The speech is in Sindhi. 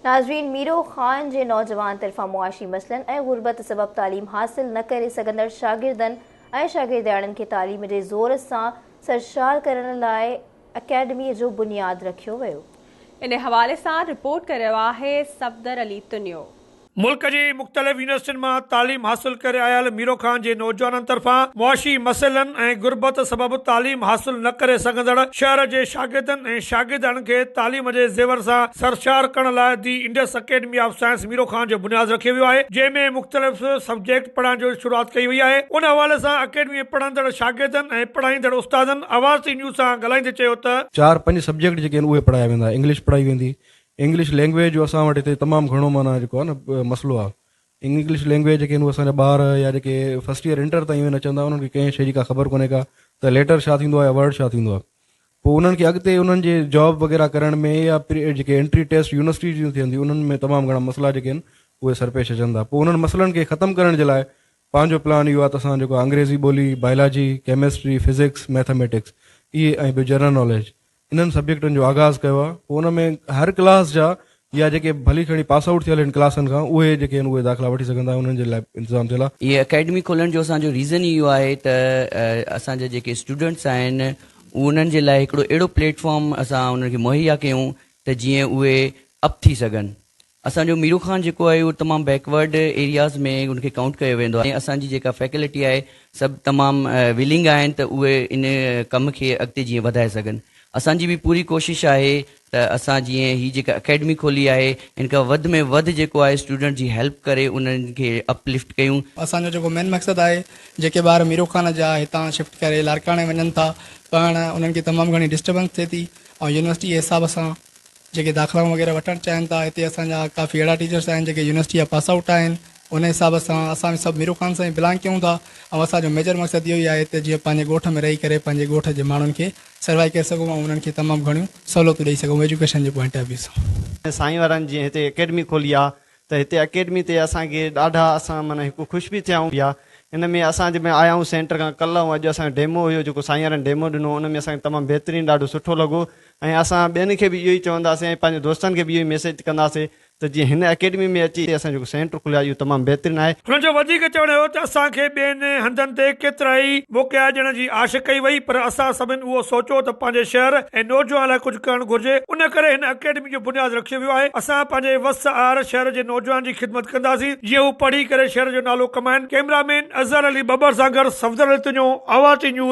ناظرين ميرو خان جي نوجوان طرفان معاشي مسئلن ۽ غربت سبب تعليم حاصل نه ڪري سگهندڙ شاگردن ۽ شاگردياڻين کي تعليم جي زور سان سرشار ڪرڻ لاء اڪيڊميء جو بنياد رکيو ويو. ان حوالي سان رپورٽ ڪريو آهي صفدر علي تنيو. ملڪ جي مختلف يونيورسٽين مان تعليم حاصل ڪري آيل ميرو خان جي نوجوانن طرفان معاشي مسئلن ۽ غربت سبب تعليم حاصل نه ڪري سگهندڙ شهر جي شاگردن ۽ شاگردياڻين کي تعليم جي زيور سان سرشار ڪرڻ لاء the Indus Academy of Science Miro Khan جو بنياد رکيو ويو آهي جنهن ۾ مختلف سبجيڪٽ پڙهائڻ جو شروعات ڪئي وئي آهي ان حوالي سان اڪيڊمي ۾ پڙهندڙ شاگردن ۽ پڙهائيندڙ استادن آواز ٽي نيوز سان ڳالهائيندي چيو ته. چار پنج سبجيڪٽ جيڪي آهن اهي پڙهايا ويندا انگلش پڙهائي ويندي انگلش لينگويج جو اسان وٽ هتي تمام گهڻو معنيٰ جيڪو آهي نه مسئلو آهي. انگلش لينگويج جيڪي هو اسان جا ٻار يا جيڪي فرسٽ ايئر انٽر تائين اهي نه چوندا انهن کي ڪنهن شيء جي ڪا خبر ڪونهي ڪا ته ليٽر ڇا ٿيندو آهي يا ورڊ ڇا ٿيندو آهي پوء انهن کي اڳتي انهن جي جاب وغيره ڪرڻ ۾ يا جيڪي انٽري ٽيسٽ يونيورسٽي جون ٿينديون انهن ۾ تمام گهڻا مسئلا جيڪي آهن اهي سرپيش اچن ٿا پوء انهن مسئلن کي ختم ڪرڻ جي لاء پنهنجو پلان اهو آهي ته اسان جيڪو انگريزي ٻولي بايلاجي ڪيمسٽري فزڪس ميٿاميٽڪس اهي ۽ ٻيو جنرل ناليج انهن سبجيڪٽن جو آغاز ڪيو آهي پوء ان ۾ هر ڪلاس جا يا جيڪي ڀلي کڻي پاس آئوٽ ٿيل آهن ڪلاسن کان اهي جيڪي آهن اهي داخلا وٺي سگهندا انهن جي لاء انتظام ٿيل آهي. هيء اڪيڊمي کولڻ جو اسان جو ريزن ئي اهو آهي ته اسان جا جيڪي اسٽوڊنٽس آهن انهن جي لاء هڪڙو اهڙو پليٽ فارم اسان انهن کي مهيا ڪيون ته جيئن اهي اپ ٿي سگهن اسان جو ميرو خان جيڪو آهي اهو تمام بيڪ ورڊ ايرياز ۾ ان کي ڪائونٽ ڪيو ويندو آهي ۽ اسان جي جيڪا فيڪلٽي آهي سڀ تمام ويلنگ آهن ته اهي ان ڪم کي اڳتي جيئن وڌائي سگهن اسان جي به پوري ڪوشش آهي ته اسان جيئن هي جيڪا اڪيڊمي کولي آهي ان کان وڌ ۾ وڌ جيڪو آهي اسٽوڊنٽ جي هيلپ ڪري انهن کي اپ لفٽ ڪيون. اسان جو جيڪو مين مقصد آهي جيڪي ٻار ميرو خان جا هتان شفٽ ڪري لاڙڪاڻي وڃن ٿا پڙهڻ انهن کي تمام گهڻي ڊسٽربنس ٿئي ٿي ۽ يونيورسٽي جي حساب سان جيڪي داخلائون وغيره وٺڻ چاهين ٿا هتي اسان جا ڪافي اهڙا ٽيچرس آهن جيڪي يونيورسٽي جا پاس آئوٽ آهن ان حساب سان اسان به سڀ ميرو خان سان ئي بلانگ ڪيون ٿا ۽ اسان جو ميجر مقصد اهو ئي آهي ته جيئن پنهنجي ڳوٺ ۾ رهي ڪري پنهنجي ڳوٺ جي ماڻهن کي سروائي ڪري سگهون ۽ انهن کي تمام گهڻيون سهولتون ڏئي سگهون ايجوڪيشن جي پوائنٽ آف ويو سان. سائين وارن جيئن هتي اڪيڊمي کولي آ ته هتي اڪيڊمي تي اسان کي ڏاڍا اسان معنيٰ هڪ خوش به ٿيا آهيون پيا ان ۾ اسان جي ۾ آيا آهيون سينٽر کان ڪلهه ۽ اڄ اسان جو ڊيمو هيو جيڪو سائينرن ڊيمو ڏنو ان ۾ اسان کي تمام بهترين ڏاڍو سٺو لڳو ۽ اسان ٻين کي به اهو ئي چونداسين ۽ پنهنجي دوستن کي به اهو ئي ميسيج ڪنداسين ته جيئن هن اڪيڊمي ۾ اچي اسان جيڪو سينٽر کليو آهي اهو تمام بهترين آهي. هنن جو وڌيڪ چوڻ هيو ته اسان کي ٻين هنڌن تي ڪيترائي موقعا ڏيڻ جي آش ڪئي وئي پر اسان سڀن اهو سوچيو ته پنهنجي شهر ۽ نوجوان لاء ڪجهه ڪرڻ گهرجي ان ڪري هن اڪيڊمي جو بنياد رکيو ويو آهي، اسان پنهنجي وس آهر شهر جي نوجوانن جي خدمت ڪنداسين جيئن هو پڙهي ڪري شهر جو نالو ڪمائين، ڪئميرا مين اظهر علي ٻٻر سان گڏ صفدر علي تنيو، آواز ٽي نيوز،